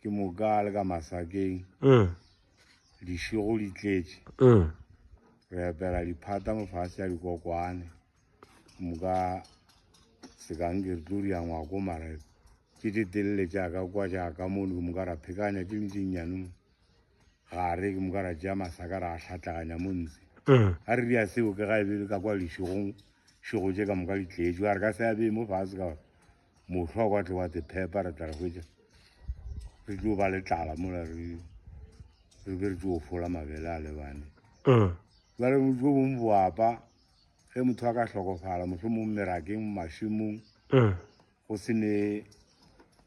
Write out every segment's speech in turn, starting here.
ke moka le ka masakeng mm. dišego di tletše mm. re epela diphata mofase ya dikokwane moka sekanke re tlo ria ngwako mara ke ditelele jaaka kwa jaaka mono ke moka ra phekanya ke lentsinyane mo gare ke moka ra jea masaka ra a tlhatlaganya mo ntse mm. a re ria seo ke ga e be le ka kwa lešegong šego tše ka moka ditletše a re ka se a bee mo fase ka gore mohlwa kwa tle wa tsephepa re tla re hwetša re tlo ba le tlala mola re re be re tlo fola mabele a lebane mm. jale jo bongwe boapa ge motho a ka hlokofala mohlho mong merakeng mašemong mm. go se ne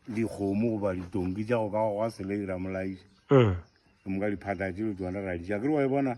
dikgomo goba ditonki tša go ka go ga sele ira molaisa mm. ke moka diphata tšelo tsone ra dija ke re wa e bona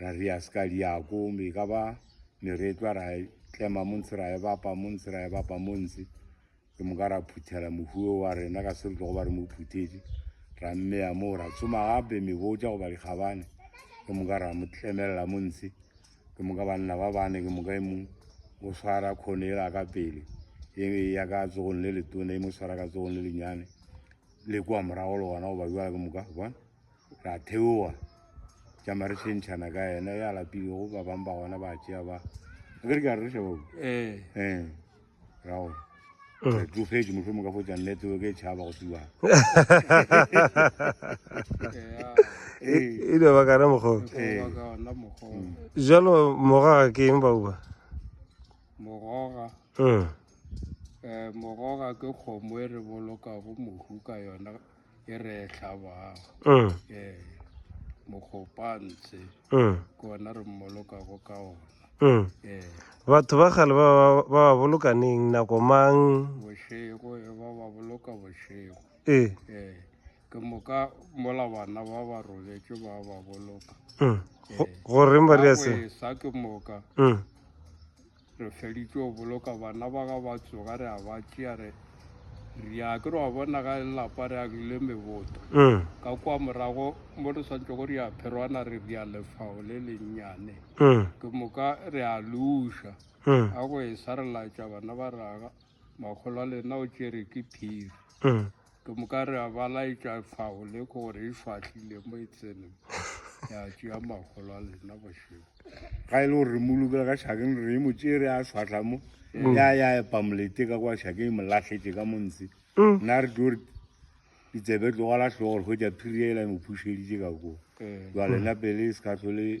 Ra ri ya ska liako, mi ka ba ni retwa ra tlema munsi ra ebapa munsi ra ebapa munsi. Ke moka ra phuthela mohuo wa rena ka se re tlogo ba re mo phutheti. Ra mmeya moo ra tsoma gape mebotša goba dikgabane. Ke moka ra mo tlemelela munsi. Ke moka banna ba bane ke moka e mong o swara khone ela ka pele e ya ka tsogong le letone e mo swara ka tsogong le lenyane le kwa morago le gona goba bjala ke moka bona ra theoa tša mare tšhentšhana ka yena ya lapilego ba bang ba gona ba tšea ba a ke re ke a re šabo ee ee ra gore mm. re tlogetse motlho mo ka fotsa nnete o ke e tšhaba go fiwa e dira ba kana mokgwa jalo moraga ke eng bauba moraga mm. eh, moraga ke kgomo e re bolokago mohu ka yona e re hlabago mm. e mokgopantse mm. ke ona re mmolokago ka ona mm. e batho ba gale ba ba bolokaneng nako mang bošego e ba ba boloka bošego e e ke moka mola bana ba ba robetše ba ba boloka mm. goreng ba ria se sa ke moka mm. Re feditše go boloka bana ba ga ba tsoga re a ba tšea re re ya ke re wa bona ga e lapa re agile meboto mm. ka kwa morago mo re swantse go re ya pherwana re re ya lefao le lennyane mm. ke moka re a luša mm. a go e sa re laetša bana ba raga Mogolo wa lena o tšere ke phiri. Mm. Ke moka re a ba laetša fao le gore e fahlile mo e tsene. Ya tšea magolo a lena bošego. Ga e le gore re mo lokela ka šakeng re mo tšere a swatlha mo. Mm. Ya ya epa molete ka kwa šakeng e mo lahletše ka montsi. Mm. Nna re tlo re ditsebe tlogala tlhogo gore hwetša phiri ya e la e mo phušeditše ka koo. Eh. Jwale nna pele e se ka tlhole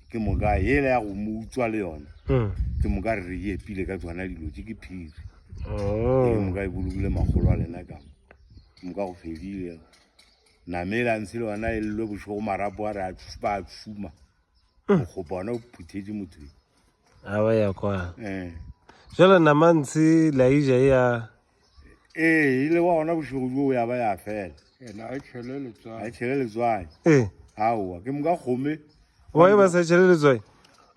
ke moka yela ya go mo utswa le yona hmm. ke moka re re ke epile ka tsona dilo tse ke phiri oh. ke moka e bolokile magolo a lena ka ke moka go fedile namela ntse le yona e lelwe bošogo marapo a re a ba a tshuma hmm. go bona o phuthetse motho a ba ya kwa eh. jalo namantshe laija e ya ee ile wa gona bošego joo ya ba ya fela ena a tšhele letswai a tšhele letswai ee aowa ke moka kgome wa e ba sa tšhele letswai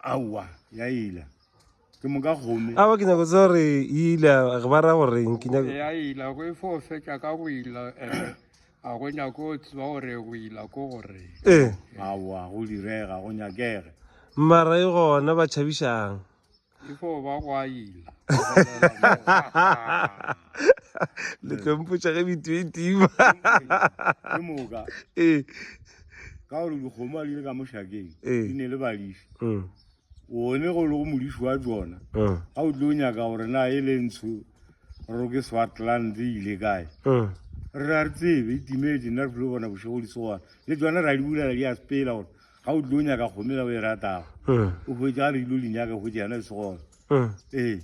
aowa ya ila ke moka kgome awa ke nyako tsa gore ila re ba ra goreng ke nyako ya ila go e fo fetša ka go ila eh, a go nyako tseba gore go ila ko gore ee aowa go direga go nyakege mara e gona ba tšhabišang le tlo mpotša ge bitho e tima ee ka gore dikgomo a di le ka mošakeng di ne le badifi mm. one go le go modifi wa tsona mm. ga o tlo nyaka gore na e le ntsho ro ke swatland e ile kae mm. re a re tsebe itimetse nna re tlile bona bošego di tsogana le tsona ra di bulela di a sepela gore ga o tlo nyaka kgomo ela o e ratago eh. o hwetsa a re ilo le nyaka hwetsa yana e se gona eh. ee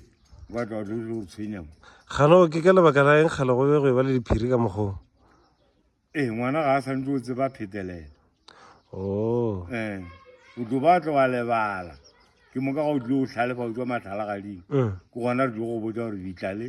batla o tlo o tshwenyamo gano ke ka lebaka la eng gale go be go e ba le diphiri ka mokgong ee ngwana ga a santse o tseba phetelela o oh. ee eh, o tlo ba tlo wa lebala ke moka ga o tlo o tlhalefa o tswa matlhalagadimo ke gona re tlo go botsa gore ditlale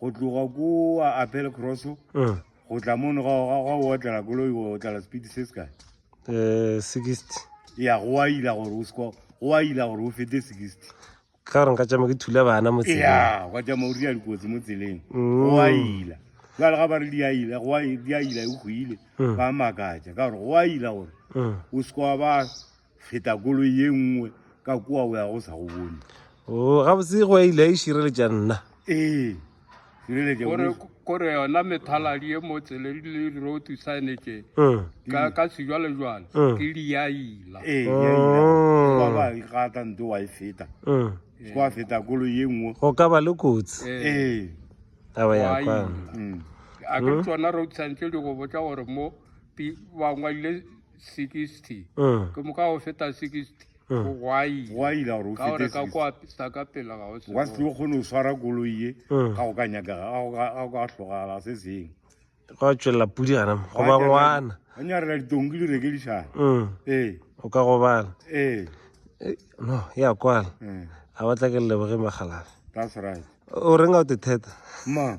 go tloga kua apel cross uh. go tla mono ga ga o otlela koloi o otlela speed se se kae eh, sixty ya go a ila gore o seko go a ila gore o fete sixty ka gore nka tšama ke thula bana mo tseleng ya go tšama o dira dikotsi mo tseleng mm. go a ila jale ga ba re di a ila go a di a ila e go ile mm. ba makatša ka gore go a ila gore mm. o seko wa ba feta kolo ye nngwe ka kua o ya go sa go bone o gabotse go ile a e šireletša nna ee kore yona methaladi e mo tseleng le di-road signage mm. ka sejwalejwale mm. ke diaila ee, oh. ba e gata nte wa e feta mm. kwa feta kolo ye nngwe go ka ba le kotsi ee taba ya kwa a ke tsona road signage di go botsa gore mo ba ngwadile 60 ke moka go feta 60 gwa tšwelela pudi gana goba ngwana anyarela ditonki di rekedišana ee o ka gobala ee no ya kwala a batla ke leboge magalafe that's right o renga o te theta ma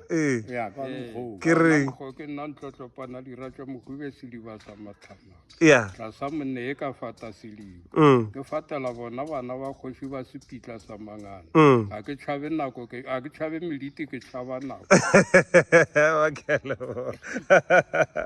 ee ke re ke nna ntlotlopana dira tša mohube sediba sa matlhama ya tlasa monne e ka fata sediba mm. ke fatela bona bana ba kgoši ba sepitla sa mangana mm. ga ke tšhabe nako ga ke tšhabe meliti ke tšhaba nako